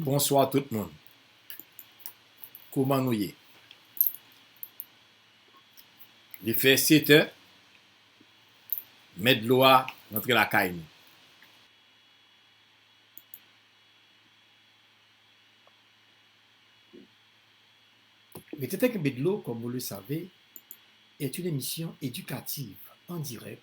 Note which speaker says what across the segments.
Speaker 1: Bonswa tout moun kouman nou ye li fè 7 è mèt dlo a rantre lakay nou
Speaker 2: Mwen te fè kenbe dlo kòm ou le save est une émission éducative en direct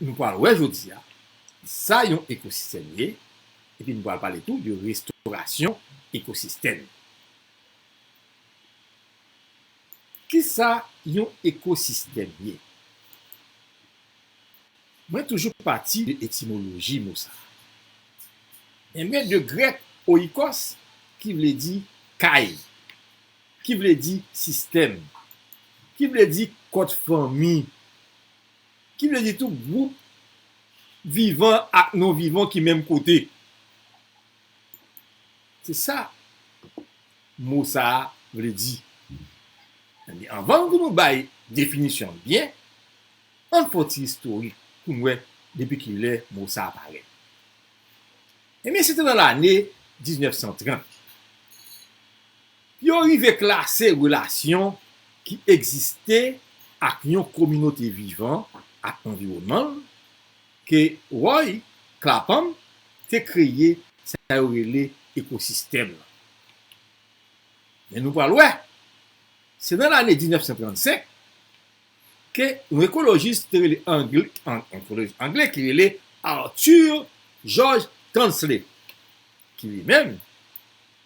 Speaker 1: Nou pral wè jodi a sa yon ekosistèm ye epi nou pral pale tou de restorasyon ekosistèm. Kisa yon ekosistèm ye? Mwen toujou pati de etimoloji mo sa. Enben de grèk oikos ki vle di kay. Ki vle di sistèm. Ki vle di kont fanmi. Ki vle di tou gwoup vivan ak non vivan ki menm kote. Se sa mo sa a vle di. Ebyen, anvan pou nou bay definisyon l byen, ann fè yon ti istorik pou n wè depi ki lè mo sa a parèt. Ebyen se te nan lane 1930 pou yo rive klase relasyon ki egziste ak yon kominote vivan ak anviwònman l ke Roy Clapham te kreye sa yo rele ekosistèm lan. Men nou pral wè se nan lane 1935 ke yon ekolojis te rele angle ki rele Arthur George Tansley ki li menm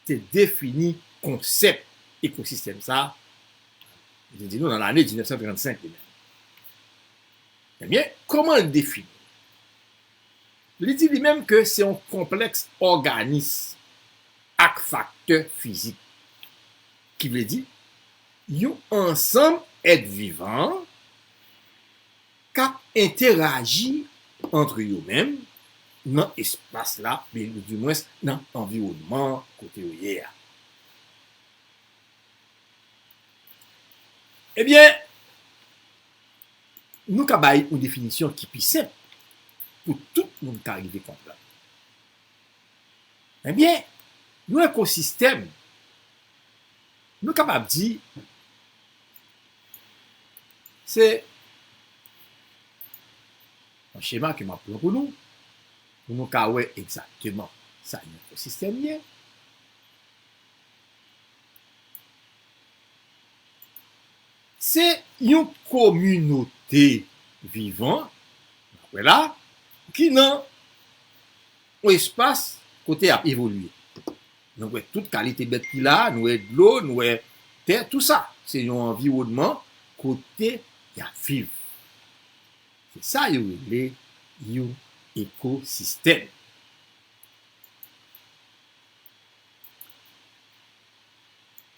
Speaker 1: te defini konsèp ekosistèm sa li te di nou nan lane 1935 li menm ebyen kòman li defini li di li menm ke se yon konplèks òganis ak faktè fizik Ki vle di, yon ansanm èt vivan k ap enteraji antre yo menm nan espas la, di mwens nan anviwònman an kote yo ye a. Ebyen, nou ka bay yon definisyon ki pi senp pou tout moun ka rive konprann. Ebyen, yon ekosistèm, nou kapab di, se yon chema ke m ap pran pou nou, pou nou ka wè egzakteman sa yon ekosistèm ye. Se yon kominote vivan, n ap wè la, ki nan. Yon espas kote yap evolye. Nou wè tout kalite bèt ki la, nou wè dlo, nou wè tè, tou sa. Se yon anviwònman kote yap viv. Se sa yo rele yon ekosistèm.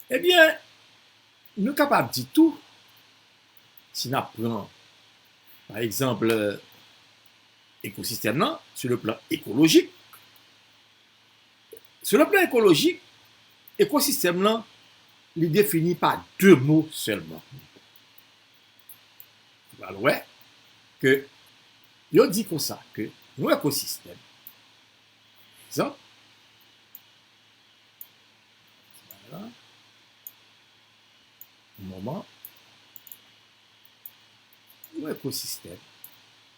Speaker 1: Ebyen, nou kapab di tou, si nap pran, pa egzanp, Ekosistèm lan sou le plan ekolojik Sou le plan ekolojik, ekosistèm lan li defini pa de mo sèlman. Nou pral wè ke yo di konsa ke yon ekosistèm, pa egzanp, yon ekosistèm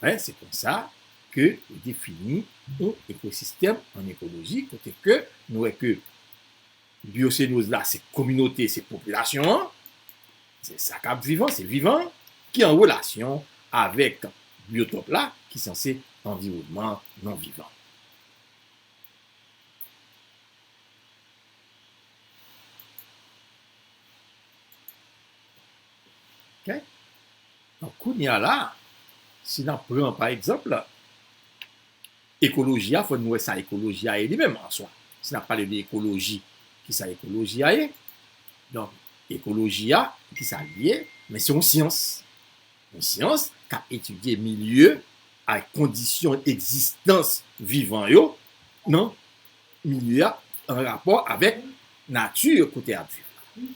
Speaker 1: Alafin, se konsa ke yo defini yon ekosistèm an ekoloji kote ke nou wè ke biosenoz la se kominote, se popilasyon an, se sa kap viv an, se vivan an, ki an relasyon avèk biotòp la ki sanse anviwònman non vivan. Ok donk kounya la si nap pran pa egzanp ekoloji a fò nou wè sa ekoloji a ye li menm an swa si nap pale de ekoloji kisa ekoloji a ye donk ekoloji a kisa li ye men se yon syans yon syans kap etidye milye ak kondisyon egzistans vivan yo nan milye a an rapò avèk nati kote ap viv la.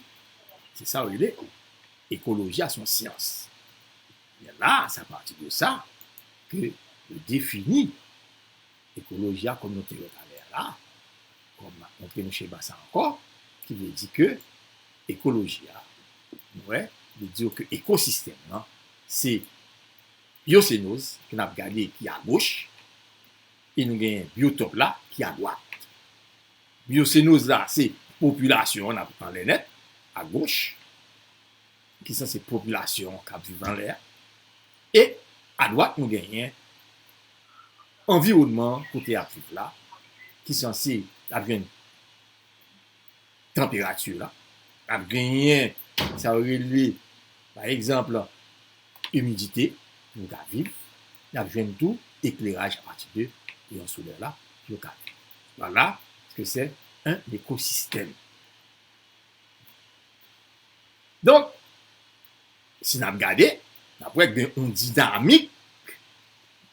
Speaker 1: Se sa yo rele ekoloji a se yon syans. Ebyen la a se apati de sa ke yo defini ekoloji a kòm nou te wè talè a la a, kòm m ap montre nou chema sa ankò, ki vle di ke ekoloji a nou wè li di w ke ekosistèm lan se byosenòz ke n ap gade ki agoch E nou gen Biyo Top la ki adwat. Biyo Senoz la se popilasyon an n ap anlè nèt, agoch, ki sa se popilasyon an k ap viv anlè a. E adwat nou genyen anviwònman kote y ap viv la, ki sa se y ap jwenn. tanperati la, ap genyen sa yo rele pa egzanp imidite pou yo ka viv, y ap jwenn tou ekleraj apati de rayon solè la pou yo ka viv. Vwala se ke sè en ekosistèm. Donk, si n ap gade, n ap wè gen yon dinamik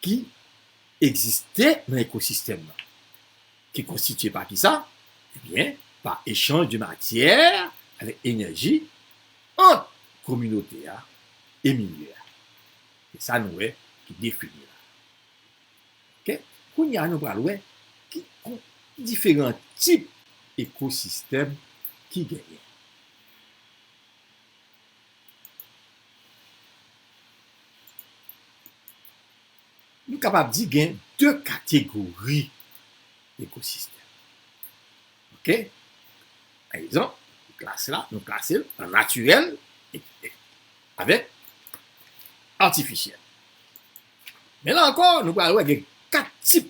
Speaker 1: ki egziste nan ekosistèm nan. ki konstitye pa kisa? Ebyen, pa echanj de matyè avèk enèji ant kominote a e milye a. Se sa nou wè ki defini la. Ok, kounye a nou pral wè ki diferan tip ekosistèm ki genyen. Nou kapab di gen 2 kategori ekosistèm. Ok. Pa egzanp, klas la nou klase l an natirèl avèk atifisyèl. Men la ankò, nou pral wè gen 4 tip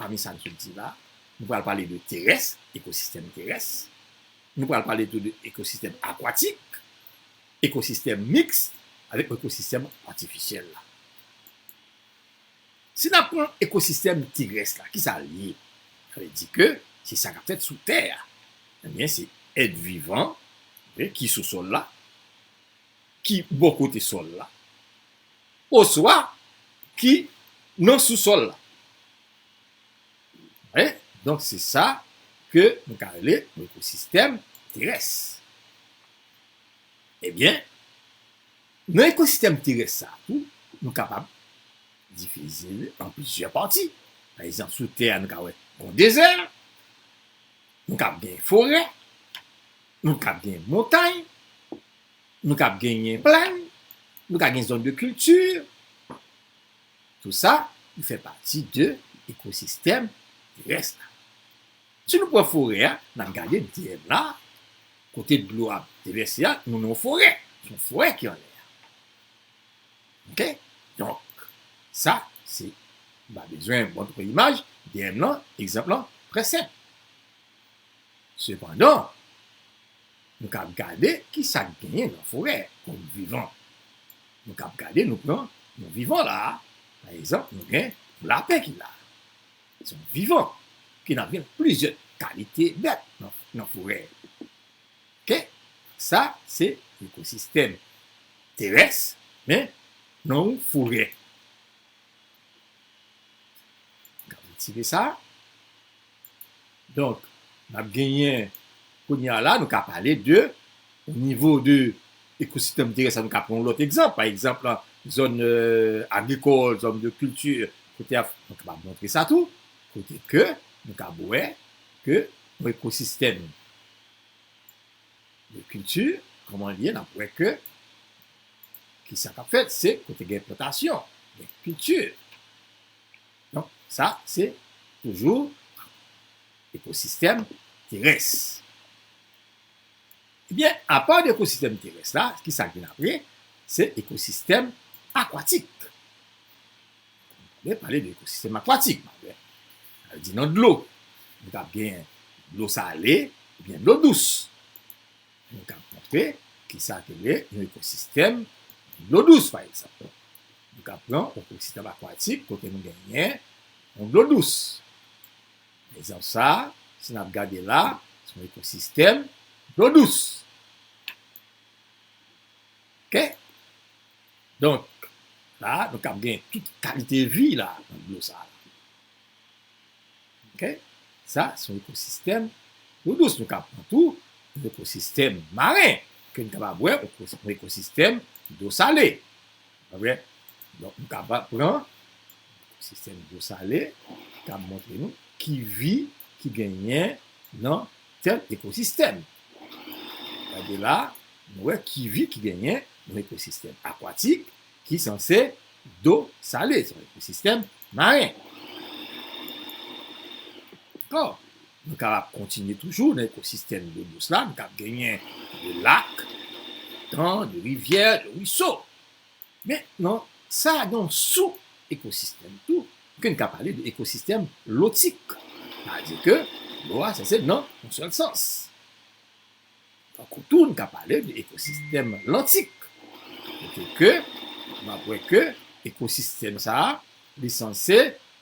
Speaker 1: pami sa n sot di la. Nou pral pale de terès, ekosistèm terès. Nou pral pale tou de ekosistèm akwatik. Ekosistèm miks avèk ekosistèm atifisyèl la. Si n ap pran ekosistèm terès la, ki sa l ye? Sa vle di ke se sa k ap fèt sou tè a. Ebyen, se èt vivan ki sou sòl la, ki bò kote sòl la, oswa ki nan sousòl la. Wè, donk se sa ke nou ka rele ekosistèm terès. Ebyen, nan ekosistèm terès sa a tou, nou kapab divize l an plizyè pati. Pa egzanp, sou tè a nou ka wè yon dezè, nou kab gen forè, nou kab gen montay, nou kab genyen plèn, nou ka gen zòn de kilti, tou sa fè pati de ekosistèm terès la. Si nou pran forè a, n ap gade dèyè m la, kote dlo a devèse a, nou nan yon forè. Se yon forè ki anlè a. Ok? Donk, sa, se, m pa bezwen montre yon imaj, dèyè m lan, egzanp lan trè senp. Sepandan, nou ka ap gade ki sa k genyen nan forè kòm vivan. Nou ka ap gade, nou pran yon vivan la a, pa egzanp, nou gen yon lapen ki la. Se yon vivan ki nan gen plizyè kalite bèt nan forè. Ok, sa se ekosistèm terès men nan yon forè. N ap retire sa. Donk, n ap genyen. Kounye a la, nou ka pale de o nivo de ekositèm terès la, nou ka pran yon lòt egzanp, pa egzanp zòn agrikòl, zòn de kilti, kote a, nou kapab montre sa tou, kote ke nou kab wè ke yon ekosistèm de kilti, kòman l ye, n ap wè ke kisa k ap fèt, se kote gen plantasyon, gen kilti. Donk, sa se toujou ekosistèm terès. Ebyen, apa de ekosistèm terès la, ki sa k vin apre? Se ekosistèm akwatik. Mwen pale de ekosistèm akwatik. Sa vle di nan dlo. Nou ka gen dlo sale oubyen dlo dous. Nou ka montre ki sa ki rele yon ekosistèm dlo dous pa egzanp. Nou ka pran yon ekosistèm akwatik kote nou genyen yon dlo dous. Nan egzanp sa a, si n ap gade la, se yon ekosistèm dlo dous. Ok. Donk, la a, nou kab gen tout kalite vi la nan dlo sa a. Ok, sa son ekosistèm dlo dous nou ka pran tou, yon ekosistèm maren ke nou kapab wè, yon ekosistèm dlo sale. Alright, donk nou kapab pran ekosistèm dlo sale ki ka montre nou ki vi ki genyen nan tèl ekosistèm. Gade la, nou wè ki vi ki genyen nan ekosistèm akwatik, ki sanse do sale, sa vle di sistèm maren. Dakò? Nou kapab kontinye toujou nan ekosistèm dlo dous la, nou kab genyen de lak, de tan, de rivyè, de ruiso. Men nan sa gen yon sou ekosistèm tou ke n ka pale de ekosistèm lotik. Sa vle di ke dlo a sanse nan yon sèl sans. Tankou tou n ka pale de ekosistèm lantik, kote ke n ap wè ke ekosistèm sa a li sanse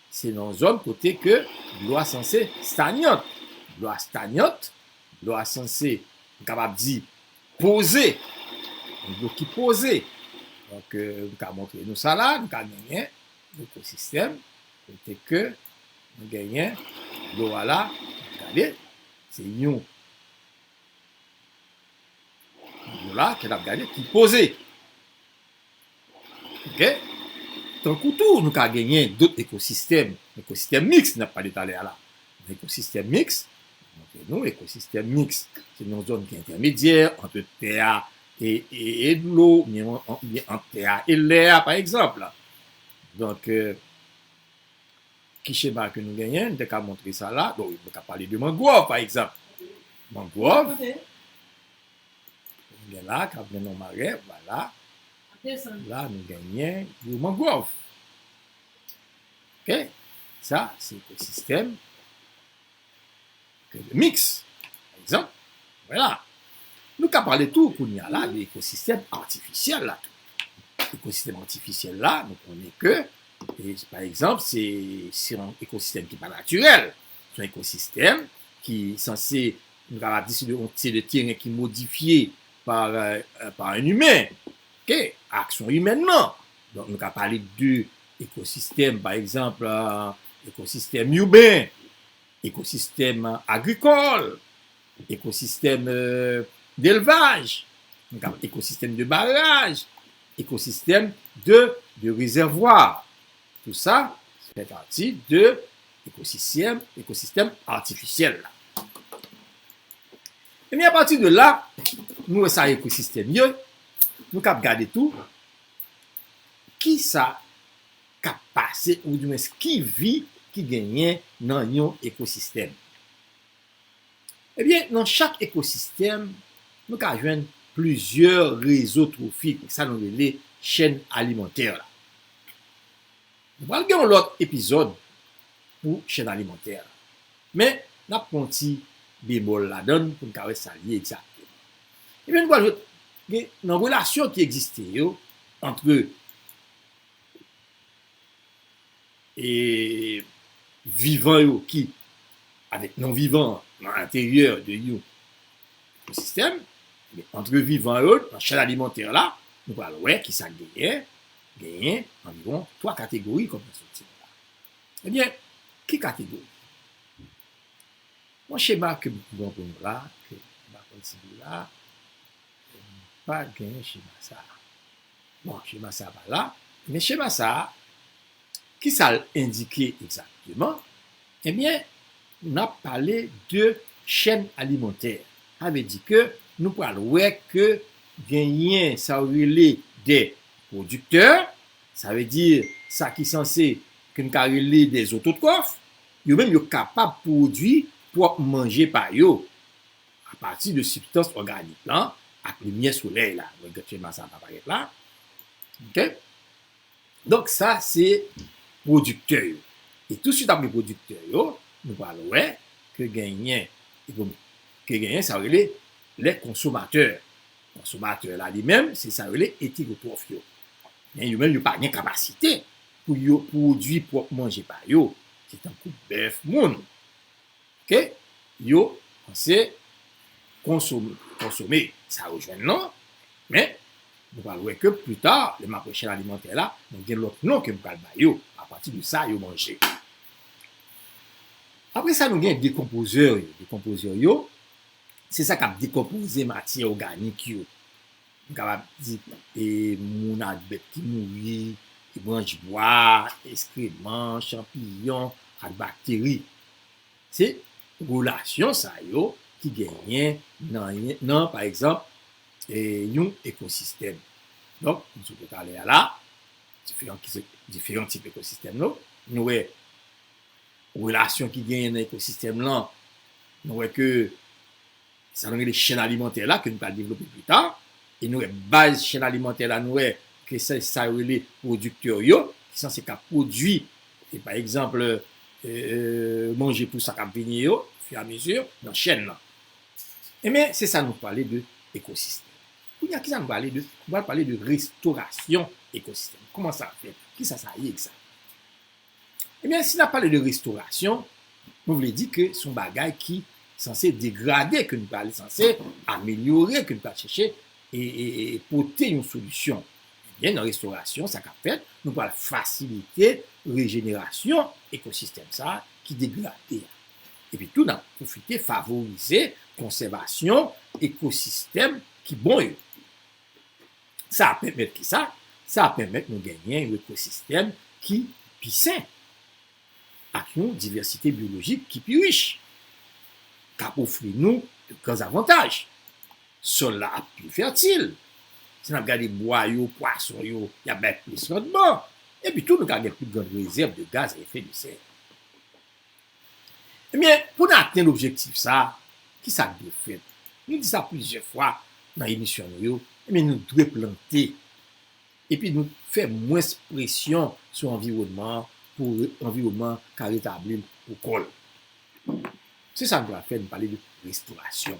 Speaker 1: se nan zòn kote ke dlo a sanse stagnant, dlo a stagnant, dlo a sanse m kapab di poze, yon dlo ki poze. Donk m ka montre nou sa la, nou ka genyen ekosistèm kote ke nou genyen dlo a la, gade se yon. Nou la kè n ap gade ki koze. Ok. Tankou tou nou ka genyen dot ekosistèm, ekosistèm miks n ap pale talè a la. Ekosistèm miks, mwen montre nou ekosistèm miks. Se yon zòn ki entèmedyè ant tè a e dlo oubyen ant tè a e lè a pa egzanp. Donk Ki chema ke nou genyen? M te ka montre sa la. Bon, mwen ka pale de mangwòv, pa egzanp. Mangwòv, nou gen la, kap gen nan mare, vwala. La, nou genyen yon mangwòv. Sa, se ekosistèm. Gen de miks, pa egzanp, wè la. Nou ka pale tou kounye a la de ekosistèm atifisyèl la tou. Ekosistèm atifisyèl la, nou konnen ke, pa egzanp, se yon ekosistèm ki pa natirèl. Se yon ekosistèm ki sanse, nou ta va di se yon teren ki modifye pa yon imen, ak aksyon imen nan. Donk nou ka pale de. Ekosistèm, pa egzanp, ekosistèm iben, ekosistèm agrikòl, ekosistèm delvaj, ekosistèm de baraj, ekosistèm de de rezèvwa, tou sa fè pati de ekosisyèm, ekosistèm atifisyèl la. Ebyen apati de la, nou wè sa ekosistèm ye, nou kab gade tou Kisa k ap pase oudimwens ki vi ki genyen nan yon ekosistèm? Ebyen nan chak ekosistèm nou ka jwenn plizyè rezo twofik sa nou rele chèn alimantè la. Nou pral gen yon lòt epizòd pou chèn alimantè la men n ap pran yon ti bemòl ladan l pou n ka wè sa l ye egzakteman. Ebyen nou pral jwenn gen nan relasyon ki egziste yo antre e vivan yo ki avèk non vivan nan enteryè de yon ekosistèm, ebyen antre vivan yo nan chèn alimantè la nou pral wè ki sa k genyen, genyen anviwon 3 kategori kòm nan estrikti nou la. Ebyen ki kategori? Yon chema ke m pran pou nou la, ke m pa konn si li la, m pa gen chema sa a. Bon, chema sa a pa la, men chema sa a, ki sa l endike egzakteman? Ebyen, n ap pale de chèn alimantè. Sa vle di ke nou pral wè ke genyen sa yo rele dè pwodiktè, sa vle di sa ki sanse, ke n ka rele dè zototròf, Yo menm yo kapab pwodui pwòp manje pa yo apati de sibstans òganik lan ak limyè solèy la. Mwen gen chema sa pa parèt la. Ok. Donk sa se pwodiktè yo. E tousuit apre pwodiktè yo, nou pral wè ke genyen ke genyen sa yo rele lè konsomatè. Konsomatè la li menm se sa yo rele etegotwòf yo. Men yo menm yo pa gen kapasite pou yo pwodui pwòp manje pa yo, se tankou bèf moun ke yo panse konsome sa yo jwenn lan, men nou pral wè ke pli ta lè map wè chèn alimantè la mwen gen lòt non kem pral ba yo apati de sa yo manje. Apre sa nou gen dekonpozè yo, dekonpozè yo se sa kap dekonpoze matyè òganik yo, M kapab di e moun ak bèt ki mouri, e branch bwa, eskreman, chanpiyon, ak bakteri. Se relasyon sa yo ki genyen nan, pa egzanp, yon ekosistèm. Donk, m sot wè talè a la, diferan tip ekosistèm yo, nou wè relasyon ki genyen nan ekosistèm lan, nou wè ke. sa nou rele chèn alimantè la ke nou pral devlope pi ta e nou wè baz chèn alimantè la nou wè ke se sa yo rele pwodiktè yo ki sanse ka pwodui e pa egzanp manje pou sa kap vini yo ofi a mezi nan chèn nan enben se sa nou pale de ekosistèm kounye a kisa nou pale de nou pral pale de restorasyon ekosistèm kouman sa fèt kisa sa ye ekzat. Ebyen si nap pale de restorasyon nou vle di ke son bagay ki sanse degrade ke nou pral sanse amelyore ke nou pral chèche pote yon solisyon ebyen nan restorasyon sa kap fèt nou pral fasilite rejenerasyon ekosistèm sa ki degrade a epi tou nap pwofite favorize konsèvasyon ekosistèm ki bon yo. Sa ap pèmèt ki sa? Sa ap pèmèt nou genyen yon ekosistèm ki pi sen, ak yon divèsite byolojik ki pi rich, k ap ofri nou de gran zavantaj. Sòl la ap pi fètil, si n ap gade bwa yo, pwason yo, y ap bay plis randman, epi tou nou ka gen pi gran rezèv de gaz a efè de sè. Ebyen, pou n atenn objektif sa a, ki sa k dwe fèt? Nou di sa plizyè fwa nan emisyon nou yo, ebyen nou dwe plante epi nou fè mwens presyon sou anviwònman an pou anviwònman an ka retabli l pou kò l. Se sa nou pral fè, nou pale de restorasyon.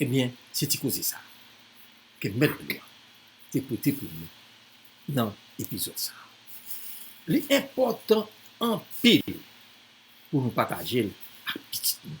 Speaker 1: Ebyen, se ti koze sa ke Mèt Dlo a te pote pou nou nan epizòd sa. Li enpòtan anpil pou nou pataje l ak pitit nou.